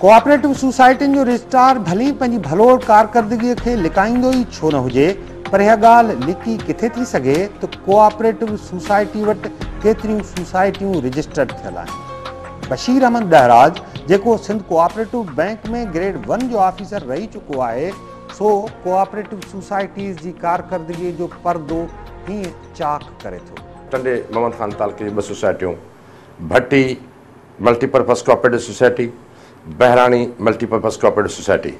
Cooperative سوسائٽين جو registrar ڀلي پنهنجي ڀلوڙ ڪارڪردگي کي لڪائيندو ئي ڇو نه هجي پر اها ڳالهه لڪي ڪٿي ٿي سگهي ته ڪوآپريٽو سوسائٽي وٽ ڪيتريون سوسائٽيون رجسٽرڊ ٿيل آهن. بشير احمد ڏهراج جيڪو Sindh cooperative bank ۾ grade one جو آفيسر رهي چڪو آهي سو ڪوآپريٽو سوسائٽيز جي ڪارڪردگي جو پردو هيئن چاڪ ڪري ٿو. ٽنڊي محمد خان تعلقي جون ٻه سوسائٽيون Bhatti, multi purpose cooperative society, Bahrani multi purpose cooperative society.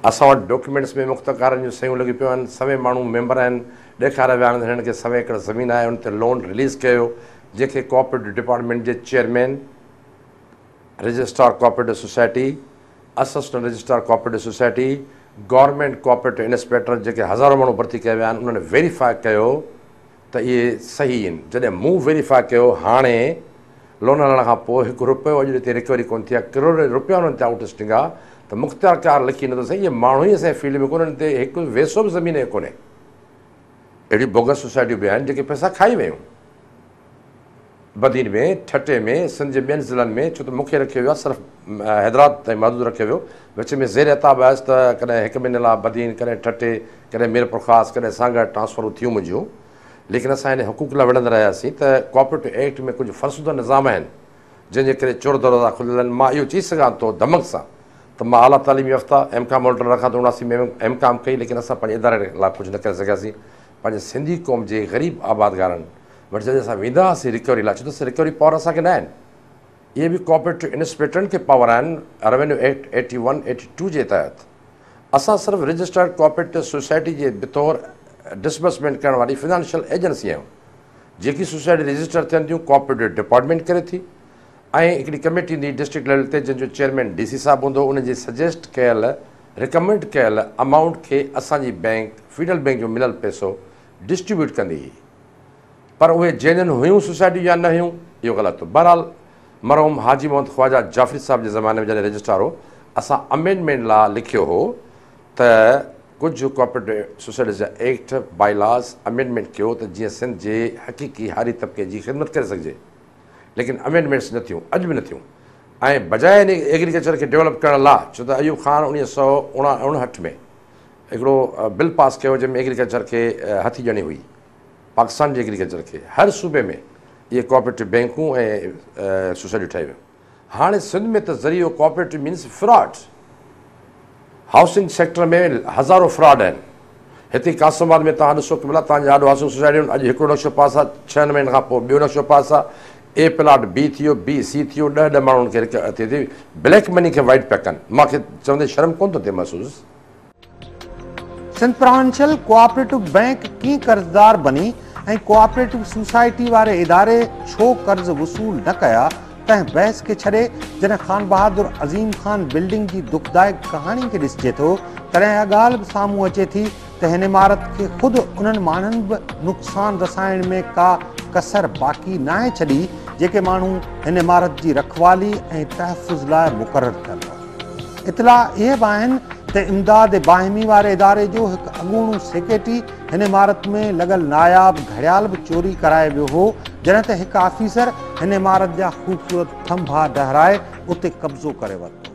اسان وٽ ڊاڪيومينٽس ۾ مخت ڪارن جون سهيون لڳيون پيون آهن، سوين ماڻهو ميمبر آهن، ڏيکار ويا آهن هنن کي سوين ايڪڙ زمين آهي ان تي لون رليز ڪيو ويو جنهن کي ڪوآپريٽو ڊپارٽمينٽ جي chairman, registrar cooperative society, assistant registrar cooperative society, government cooperative inspector جيڪي هزارون ماڻهو ڀرتي ڪيا ويا آهن انهن ويريفاء ڪيو ته اهي صحيح ان جڏهن مون ويريفاء ڪيو هاڻي لون هلڻ کان پوء هڪ رپيو اڄ تائين رڪوري ڪونه ٿي آهي ڪروڙين رپيا انهن تي آئوٽ اسٽنگ آ ته مختيار ڪار لکي نه ٿو سگهي اهي ماڻهو ئي اسان جي فيلڊ ۾ ڪونهن انهن تي هڪ ويسو به زمين جي ڪونهي اهڙيون بوگس سوسائٽيون به آهن جيڪي پئسا کائي ويون. بدين ۾ ٺٽي ۾ سنڌ جي ٻين ضلعن ۾ ڇو ته مون کي رکيو ويو آهي صرف حيدرآباد تائين محدود رکيو ويو وچ ۾ زير عتاب هيس ته ڪڏهن هڪ مهيني لاء بدين ڪڏهن ٺٽي ڪڏهن ميرپورخاص ڪڏهن سانگهڙ ٽرانسفرون ٿيون منهنجيون ليڪن اسان انهي حقوق لاء وڙهندا رهياسين ته ڪوآپريٽو ايڪٽ ۾ ڪجهه فرسوده نظام آهن جنهن جي ڪري چور دروازا کليل آهن مان اهو چئي سگهان ٿو ڌمڪ سان ته مان اعليٰ تعليم يافته ايم ڪام هولڊر رکان ٿو اوڻاسي ۾ ايم ڪام ڪئي ليڪن اسان پنهنجي اداري لاء ڪجهه نه ڪري سگهياسين پنهنجي سنڌي قوم جي غريب آبادگارن وٽ جڏهن اسان ويندا هئاسين ريڪوري لاء ڇو ته ريڪوري پاور اسان کي نه آهن اهي به ڪوآپريٽو انسپيڪٽرن کي پاور آهن revenue act eighty one eighty two جي تحت اسان صرف رجسٽرڊ ڪوآپريٽو سوسائٽي جي بطور ڊسبرسمينٽ ڪرڻ واري فنانشل ايجنسي آهيون جيڪي سوسائٽي رجسٽر ٿين ٿيون ڪوآپريٽو ڊپارٽمينٽ ڪري ٿي ۽ هڪڙي ڪميٽي هوندي ڊسٽرڪٽ ليول تي جنهن جو چيئرمين ڊي سي صاحب هوندو ان جي سجيسٽ ڪيل رڪمنڊ ڪيل امائونٽ کي اسان جي بئنڪ فيڊرل بئنڪ جو مليل پئسو ڊسٽريبيوٽ ڪندي هئي پر اهي جينين هيون سوسائٽيون يا نه هيون، اهو غلط هو. بهرحال مرحوم حاجي محمد خواجه جعفري صاحب جي زماني ۾ جڏهن رجسٽرار هو، اسان امينڊمينٽ لا لکيو هو ته ڪجهه ڪوآپريٽو سوسائٽيز جا ايڪٽ، بائي لاز، امينڊمينٽ ڪيو ته جيئن سنڌ جي حقيقي هاري طبقي جي خدمت ڪري سگهجي. ليڪن امينڊمينٽس نه ٿيون، اڄ به نه ٿيون ۽ بجاء ان ايگريڪلچر کي ڊيولپ ڪرڻ لا ڇو ته ايوب خان اڻيهه سؤ اڻاهٺ ۾ هڪڙو بل پاس ڪيو جنهن ۾ ايگريڪلچر کي هٿي ڄڻي هئي. پاڪستان جي ايگريڪلچر کي هر صوبي ۾ اهي ڪوآپريٽو بينڪون ۽ سوسائٽيون ٺاهي ويون. هاڻي سنڌ ۾ ته ذريعو cooperative means fraud. Housing sector ۾ هزارو فراڊ آهن. هتي قاسم آباد ۾ توهان ڏسو قبلا توهان جي آڏو هائوسنگ سوسائٽيون اڄ هڪڙو نقشو پاس آ ڇهن مهينن کان پوء ٻيو نقشو پاس آ اي پلاٽ بي ٿيو بي سي ٿيو ڏهه ڏهه ماڻهن کي رڪ ٿي ٿي بليڪ مني کي وائيٽ پيا ڪن مان کي چوندي شرم ڪونه ٿو ٿئي محسوس سنڌ پروونشل ڪوآپريٽو بئنڪ ڪين قرضدار بني ۽ ڪوآپريٽو سوسائٽي واري اداري ڇو قرض وصول نه ڪيا تنهن بحث کي ڇڏي جڏهن خانبهادر عظيم خان بلڊنگ جي دکدائڪ ڪهاڻي کي ڏسجي ٿو تڏهن اها ڳالهه به سامهون اچي ٿي ته هن عمارت کي خود انهن ماڻهن به نقصان رسائڻ ۾ ڪا ڪسر باقي ناهي ڇڏي جيڪي ماڻهو هن عمارت جي رکوالي ۽ تحفظ لاء مقرر ٿيل هئا اطلاع اهي به آهن ته امداد باهمي واري اداري جو هڪ اڳوڻو سيڪريٽري هن عمارت ۾ لڳل ناياب گهڙيال به چوري ڪرائي ويو هو جڏهن ته هڪ آفيسر هن عمارت جا خوبصورت ٿنڀا ڊهرائي اتي قبضو ڪري ورتو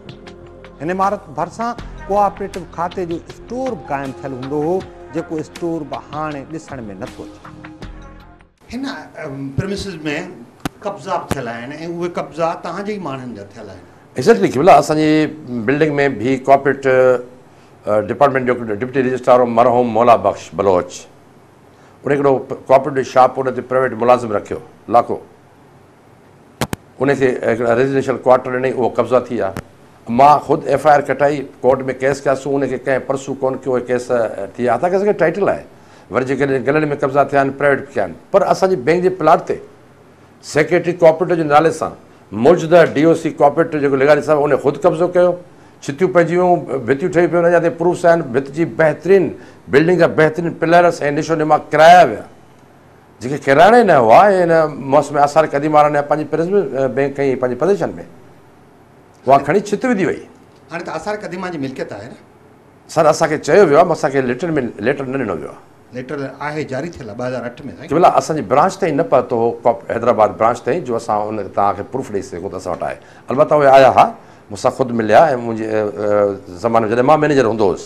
هن عمارت ڀرسان ڪوآپريٽو کاتي جو اسٽور به قائم ٿيل هوندو هو جيڪو اسٽور به هاڻي ڏسڻ ۾ نٿو اچي هن پريمسز ۾ قبضا به ٿيل آهن ۽ اهي قبضا توهان جي ئي ماڻهن جا ٿيل آهن. ايگزيڪٽلي قبلا اسان جي بلڊنگ ۾ بي ڪارپوريٽ ڊپارٽمينٽ جو ڊپٽي رجسٽرار هو مرحوم مولا بخش بلوچ ان هڪڙو ڪارپوريٽ شاپ ان تي پرائيويٽ ملازم رکيو لاکو. ان کي هڪڙا ريزيڊينشل ڪوارٽر ڏنئي اهو قبضا ٿي ويا مان خود ايف آء آر ڪٽائي ڪورٽ ۾ ڪيس ڪيا سو ان کي ڪنهن پرسو ڪون ڪيو هي ڪيس ٿي ويا هتان کيس ٽائيٽل آهي وري جيڪڏهن گلن ۾ قبضا ٿيا آهن پرائيويٽ به ڪيا آهن پر اسان جي بئنڪ جي پلاٽ تي سيڪريٽري ڪوآپريٽو جي نالي سان موجوده ڊي او سي ڪوآپريٽو جيڪو لغاري صاحب ان خود قبضو ڪيو ڇتيون پئجي ويون ڀتيون ٺهي پيون اڃا تائين پروفس آهن ڀت جي بهترين بلڊنگ جا بهترين پلرس ۽ نشو نما ڪرايا ويا جيڪي ڪيراڙا ئي نه هئا ۽ ان موس ۾ آثار قديمه وارن يا پنهنجي پرزم بئنڪ ۽ پنهنجي پرديشن ۾ اها کڻي ڇت وڌي وئي. هاڻي ته آثار قديمه جي ملڪيت آهي نه؟ سر اسان کي چيو ويو آهي مون سان ڪنهن ليٽر ۾ ليٽر نه ڏنو ويو آهي. ليٽر آهي جاري ٿيل آهي ٻه هزار اٺ ۾ سائين. قبلا اسان جي برانچ تائين نه پهتو هو ڪاپ حيدرآباد برانچ تائين جو اسان ان توهان کي پروف ڏئي سگهون ته اسان وٽ آهي البته اهي آيا ها مون سان خود مليا ۽ منهنجي زماني ۾ جڏهن مان مئنيجر هوندو هيس.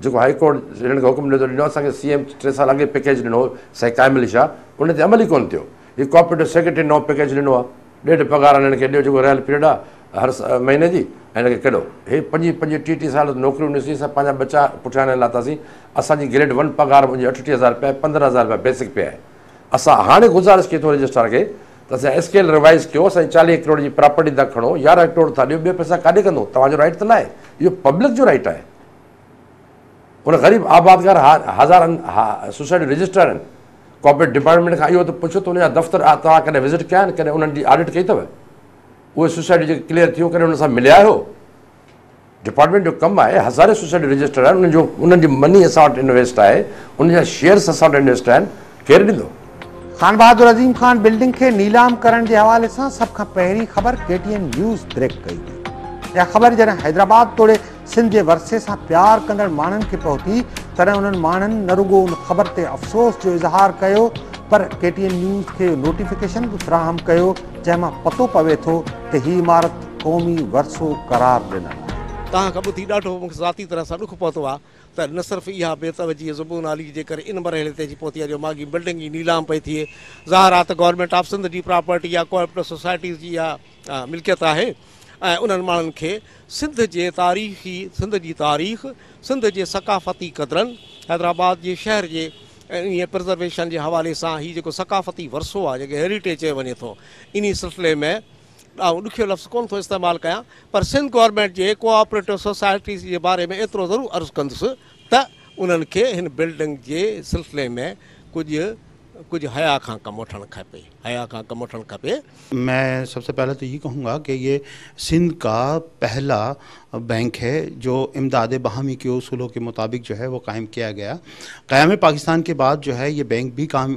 جيڪو هائي ڪورٽ هنن کي حڪم ڏنو اسان کي سي ايم ٽي سال اڳي پيڪيج ڏنو هو سائين قائم علي شاهه ان تي عمل ئي ڪونه ٿيو هي ڪوآپريٽو سيڪريٽري نئون پيڪيج ڏنو آهي ڏيڍ پگهار هنن کي ڏيو جيڪو رهيل پيريڊ آهي هر مهيني جي ۽ هن کي ڪيڏو هي پنجين پنجين ٽي ٽي سال نوڪريون ڏسي اسان پنهنجا ٻچا پٺيان نه لاتاسين اسان جي گريڊ ون پگهار منهنجي اٺٽيهه هزار روپيا آهي پندرهن هزار روپيا بيسڪ پي آهي اسان هاڻي گذارش ڪئي ٿو رجسٽرار کي ته اسان اسڪيل ريوائز ڪيو اسان جي چاليهه ڪروڙ جي پراپرٽي تان کڻو يارهن ڪروڙ ٿا ڏيو ٻيا پئسا ڪاڏي ڪندو توهان جو رائٽ ته ناهي اهو پبلڪ جو رائٽ آهي ان غريب آبادگار هزارن سوسائٽي رجسٽرار آهن ڪارپوريٽ ڊپارٽمينٽ کان اهو ته پڇو ته ان جا دفتر توهان ڪڏهن وزٽ ڪيا آهن ڪڏهن انهن جي آڊٽ ڪئي اٿو اهي سوسائٽي جيڪي ڪليئر ٿيو ڪڏهن ان سان مليا آهيو ڊپارٽمنٽ جو ڪم آهي هزارين سوسائٽي رجسٽرار آهن انهن جو انهن جي مني اسان وٽ انويسٽ آهي ان جا شيئرس اسان وٽ انويسٽ آهن ڪير ڏيندو؟ خانبهادر عظيم خان بلڊنگ کي نيلام ڪرڻ جي حوالي سان سڀ کان پهرين خبر K T N news break ڪئي هئي. اها خبر جڏهن حيدرآباد توڙي سنڌ جي ورثي سان پيار ڪندڙ ماڻهن کي پهتي تڏهن انهن ماڻهن نه رڳو ان خبر تي افسوس جو اظهار ڪيو پر ڪي ٽي اين نيوز کي اهو نوٽيفڪيشن به فراهم ڪيو جنهن مان پتو پوي ٿو ته هي عمارت قومي ورثو قرار ڏنل آهي. توهان کان ٻڌي ڏاڍو مون کي ذاتي طرح سان ڏک پهتو آهي ته نه صرف اها بي توجهي زبون عالي جي ڪري ان مرحلي تي اچي پهتي آهي جو ماڳهين بلڊنگ ئي نيلام پئي ٿئي. ظاهر آهي ته گورنمينٽ آف سنڌ جي پراپرٽي يا ڪوآپريٽو سوسائٽيز جي اها ملڪيت آهي ۽ انهن ماڻهن کي سنڌ جي تاريخي سنڌ جي تاريخ، سنڌ جي ثقافتي قدرن، حيدرآباد جي شهر جي انهيء پرزرويشن جي حوالي سان هي جيڪو ثقافتي ورثو آهي جنهن کي هيريٽيج چيو وڃي ٿو انهي سلسلي ۾ ڏانهن ڏکيو لفظ ڪونه ٿو استعمال ڪيان پر سنڌ گورنمينٽ جي ڪو آپريٽو سوسائٽيز جي باري ۾ ايترو ضرور عرض ڪندس ته انهن کي هن بلڊنگ جي سلسلي ۾ ڪجهه ڪجهه حيا کان ڪم وٺڻ کپي حيا کان ڪم وٺڻ کپي. مين سب سي پهلي تو يه ڪهون گا ڪي يه سنڌ ڪا پهلا بينڪ هي جو امداد باهمي ڪي اصولو ڪي مطابق جو هي وو قائم ڪيا گيا قيام پاڪستان ڪي بعد جو هي يه بينڪ بي قائم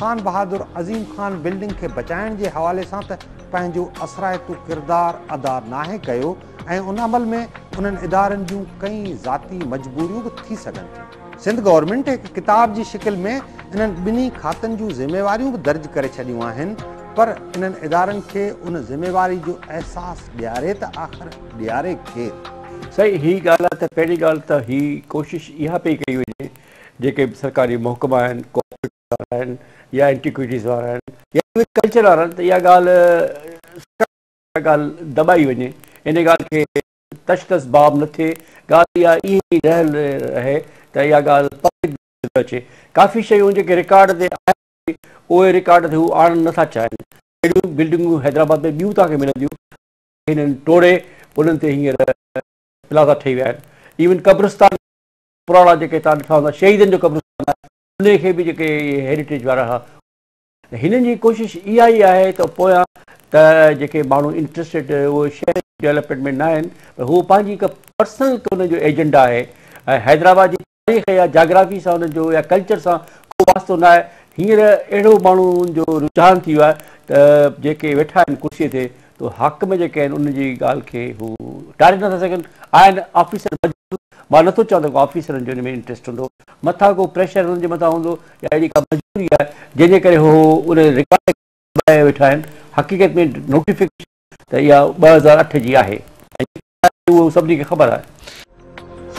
خان بهادر عظيم خان بلڊنگ کي بچائڻ جي حوالي سان ته پنهنجو اثرائتو ڪردار ادا ناهي ڪيو ۽ ان عمل ۾ انهن ادارن جون ڪئين ذاتي مجبوريون به ٿي سگهن ٿيون. سنڌ گورنمينٽ هڪ ڪتاب جي شڪل ۾ انهن ٻنهي کاتن جون ذميواريون به درج ڪري ڇڏيون آهن پر انهن ادارن کي ان ذميواري جو احساس ڏياري ته آخر ڏياري ڪير؟ سائين هي ڳالهه آهي ته پهرين ڳالهه ته هي ڪوشش اها پئي ڪئي وڃي جيڪي به سرڪاري محڪما آهن، ڪو آپريٽو وارا آهن يا اينٽيڪويٽيز وارا آهن يا ايون ڪلچر وارا آهن ته اها ڳالهه سرڪار اها ڳالهه دٻائي وڃي، ان ڳالهه کي تش تس باب نه ٿئي، ڳالهه اها ائين ئي رهيل رهي ته اها ڳالهه پبلڪ جي نظر ۾ اچي. ڪافي شيون جيڪي رڪارڊ تي آهن به اهي رڪارڊ تي هو آڻڻ نه ٿا چاهين. اهڙيون بلڊنگون حيدرآباد ۾ ٻيون توهان کي ملنديون جيڪي هنن ٽوڙي انهن تي هينئر پلازا ٺهي ويا آهن. ايون قبرستان پراڻا جيڪي تان ڏٺا هوندا شهيدن جو قبرستان آهي انهي کي به جيڪي هيريٽيج وارا ها هنن جي ڪوشش اها ئي آهي ته پويان ته جيڪي ماڻهو انٽرسٽيڊ اهو شهر ڊيولپمينٽ ۾ نه آهن هو پنهنجي هڪ پرسنل هن جو ايجنڊا آهي ۽ حيدرآباد جي تاريخ يا جاگرافي سان هن جو يا ڪلچر سان ڪو واسطو نه آهي هينئر اهڙو ماڻهو جو رجحان ٿي ويو آهي ته جيڪي ويٺا آهن ڪرسي تي تو حاڪم جيڪي آهن ان جي ڳالهه کي هو ٽاري نٿا سگهن آهن آفيسر مجبور مان نٿو چوان ته ڪو آفيسرن جو ان ۾ انٽريسٽ هوندو، مٿان ڪو پريشر هنن جي مٿان هوندو يا اهڙي ڪا مجبوري آهي جنهن جي ڪري هو ان رڪارڊ کي دٻائي ويٺا آهن، حقيقت ۾ نوٽيفڪيشن ته اها ٻه هزار اٺ جي آهي ۽ جيڪا آهي اهو سڀني کي خبر آهي.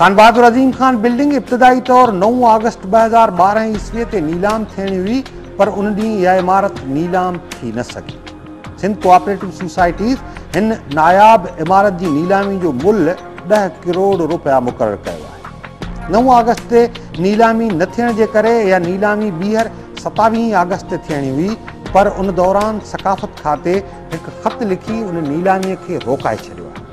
خان بهادر عظيم خان بلڊنگ ابتدائي طور نو آگسٽ ٻه هزار ٻارهن عيسوي تي نيلام ٿيڻي هئي پر ان ڏينهن اها عمارت نيلام ٿي نه سگهي. سنڌ ڪوآپريٽو سوسائٽيز هن ناياب عمارت جي نيلامي جو ملهه ڏهه ڪروڙ رپيا مقرر ڪيو آهي نو آگسٽ تي نيلامي نه ٿيڻ جي ڪري اها نيلامي ٻيهر ستاويهين آگسٽ تي ٿيڻي هئي پر ان دوران ثقافت کاتي هڪ خط لکي ان نيلامي کي روڪائي ڇڏيو آهي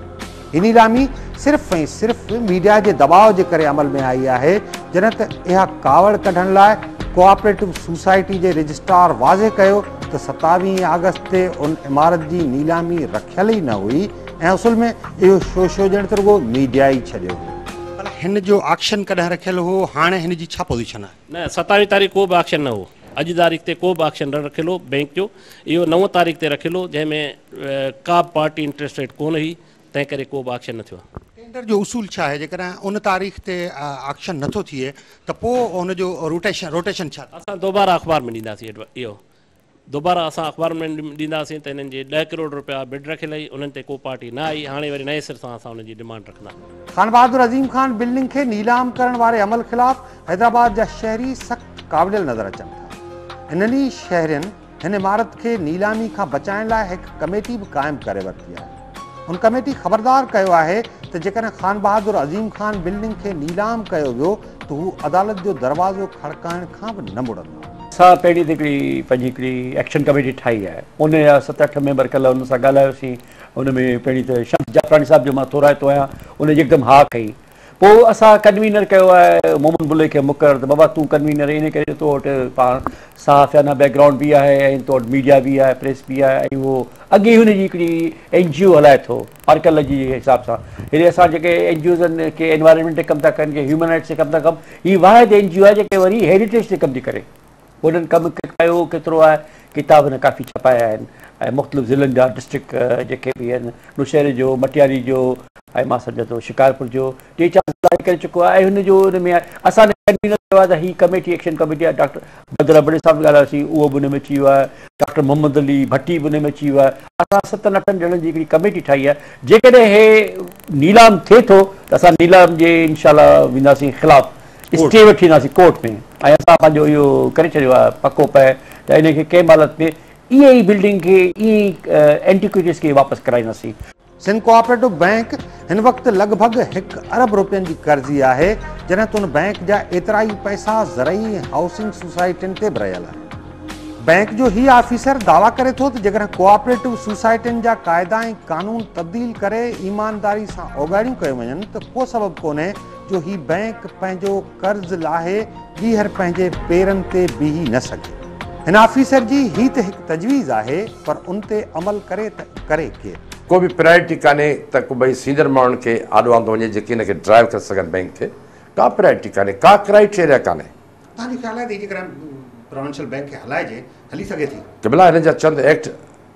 هي نيلامي صرف ۽ صرف ميڊيا جي دٻاء جي ڪري عمل ۾ آئي آهي، جڏهن ته اها ڪاوڙ ڪڍڻ لاء ڪوآپريٽو سوسائٽي جي رجسٽرار واضح ڪيو ته ستاويهين آگسٽ تي ان عمارت جي نيلامي رکيل ئي نه هئي ۽ اصل ۾ اهو شوشو ڄڻ ته رڳو ميڊيا ئي ڇڏيو هو. ڀلا هن جو آڪشن ڪڏهن رکيل هو، هاڻي هن جي ڇا پوزيشن آهي؟ نه، ستاويهين تاريخ ڪو به آڪشن نه هو، اڄ تاريخ تي ڪو به آڪشن نه رکيل هو، بئنڪ جو اهو نو تاريخ تي رکيل هو، جنهن ۾ ڪا به پارٽي انٽرسٽيڊ ڪونه هئي، تنهن ڪري ڪو به آڪشن نه ٿيو. ٽينڊر جو اصول ڇا آهي؟ جيڪڏهن ان تاريخ تي آڪشن نه ٿو ٿئي ته پوء ان جو روٽيشن ڇا ٿيندو؟ اسان دوباره اخبار ۾ ڏينداسين اهو دوباره اسان اخبار ۾ ڏينداسين ته انهن جي ڏهه ڪروڙ رپيا بڊ رکيل هئي، انهن تي ڪو پارٽي نه آئي، هاڻي وري نئين سر سان اسان انهن جي ڊمانڊ رکنداسين. خانبهادر عظيم خان بلڊنگ کي نيلام ڪرڻ واري عمل خلاف حيدرآباد جا شهري سخت ڪاوڙيل نظر اچن ٿا. انهن ئي شهرين هن عمارت کي نيلامي کان بچائڻ لاء هڪ ڪميٽي به قائم ڪري ورتي آهي. هن ڪميٽي خبردار ڪيو آهي ته جيڪڏهن خانبهادر عظيم خان بلڊنگ کي نيلام ڪيو ويو ته هو عدالت جو دروازو کڙڪائڻ کان به نه مڙندا. اسان پهرين ته هڪڙي پنهنجي هڪڙي ايڪشن ڪميٽي ٺاهي آهي. ان جا ست اٺ ميمبر ڪلهه انهن سان ڳالهايوسين. ان ۾ پهرين ته شمس جعفراڻي صاحب جو مان ٿورائتو آهيان. ان يڪدم ها ڪئي. پوء اسان ڪنوينر ڪيو آهي مومن بلوچ کي مقرر ته بابا تون ڪنوينر ان ڪري تو وٽ پاڻ صحافيانه بيڪ گرائونڊ به آهي ۽ تو وٽ ميڊيا به آهي پريس به آهي ۽ اهو اڳي هن جي هڪڙي اين جي او هلائي ٿو آرڪل جي حساب سان هيڏي اسان جيڪي اين جي اوز آهن ڪي انوائرمينٽ تي ڪم ٿا ڪن ڪي هيومن رائٽس تي ڪم ٿا ڪن هي واحد اين جي او آهي جيڪي وري هيريٽيج تي ڪم ٿي ڪري وڏن ڪم ڪيو ڪيترو آهي ڪتاب هن ڪافي ڇپايا آهن ۽ مختلف ضلعن جا ڊسٽرڪٽ جيڪي به آهن نوشهري جو مٽياري جو ۽ مان سمجهان ٿو شڪارپور جو ٽي چار ضلع ڪري چڪو آهي ۽ هن جو ان ۾ اسان ڪنوينر چيو آهي ته هي ڪميٽي ايڪشن ڪميٽي آهي ڊاڪٽر بدر ابڙي صاحب ڳالهايوسين اهو به ان ۾ اچي ويو آهي ڊاڪٽر محمد علي ڀٽي به ان ۾ اچي ويو آهي اسان ستن اٺن ڄڻن جي هڪڙي ڪميٽي ٺاهي آهي جيڪڏهن هي نيلام ٿئي ٿو ته اسان نيلام جي انشاء الله وينداسين خلاف اسٽي وٺي اينداسين ڪورٽ ۾ ۽ اسان پنهنجو اهو ڪري ڇڏيو آهي پڪو پهه ته ان کي ڪنهن به حالت ۾ ايئن ئي بلڊنگ کي ايئن ئي اينٽيڪوئٽيز کي واپس ڪرائينداسين. سنڌ ڪوآپريٽو بئنڪ هن وقت لڳ ڀڳ هڪ ارب روپين جي قرضي آهي، جڏهن ته ان بئنڪ جا ايترا ئي پئسا زرعي ۽ هائوسنگ سوسائٽين تي به رهيل آهن. بئنڪ جو هي آفيسر دعويٰ ڪري ٿو ته جيڪڏهن ڪوآپريٽو سوسائٽين جا قاعدا ۽ قانون تبديل ڪري ايمانداري سان اوڳاڙيون ڪيون وڃن ته ڪو سبب ڪونهي جو هي بئنڪ پنهنجو قرض لاهي ٻيهر پنهنجي پيرن تي بيهي نه سگهي. هن آفيسر جي هي ته هڪ تجويز آهي پر ان تي عمل ڪري ته ڪري ڪير؟ ڪو به پرائرٽي ڪانهي ته ڪبئي سينئر ماڻهن کي آڏو آندو وڃي جيڪي هن کي ڊرائيو ڪري سگهن بئنڪ کي ڪا پرائرٽي ڪانهي ڪا ڪرائيٽيريا ڪانهي. توهان جو خيال آهي ته هي جيڪڏهن پراوينشل بئنڪ کي هلائجي هلي سگهي ٿي؟ قبلا هن جا چند ايڪٽ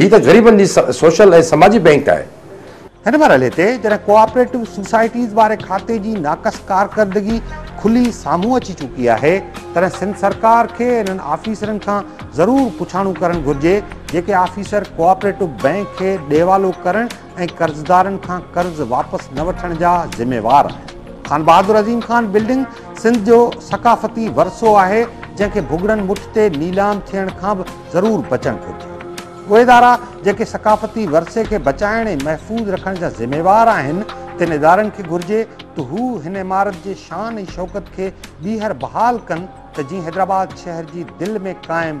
هي ته غريبن جي سوشل ۽ سماجي بئنڪ آهي. هن مرحلي تي جڏهن ڪوآپريٽو سوسائٽيز واري کاتي جي ناقص ڪارڪردگي کلي سامهون اچي چڪي آهي تڏهن سنڌ سرڪار کي انهن آفيسرن کان ضرور پڇاڻو ڪرڻ گهرجي جيڪي آفيسر ڪوآپريٽو بئنڪ کي ڏيوالو ڪرڻ ۽ قرضدارن کان قرض واپس نه وٺڻ جا ذميوار آهن. خان بهادر عظيم خان بلڊنگ سنڌ جو ثقافتي ورثو آهي، جنهن کي ڀڳڙن مٺ تي نيلام ٿيڻ کان به ضرور بچڻ گهرجي. اهي ادارا جيڪي ثقافتي ورثي کي بچائڻ ۽ محفوظ رکڻ جا ذميوار آهن، تن ادارن کي گهرجي ته هو هن عمارت جي شان ۽ شوڪت کي ٻيهر بحال ڪن ته جيئن حيدرآباد شهر جي دل ۾ قائم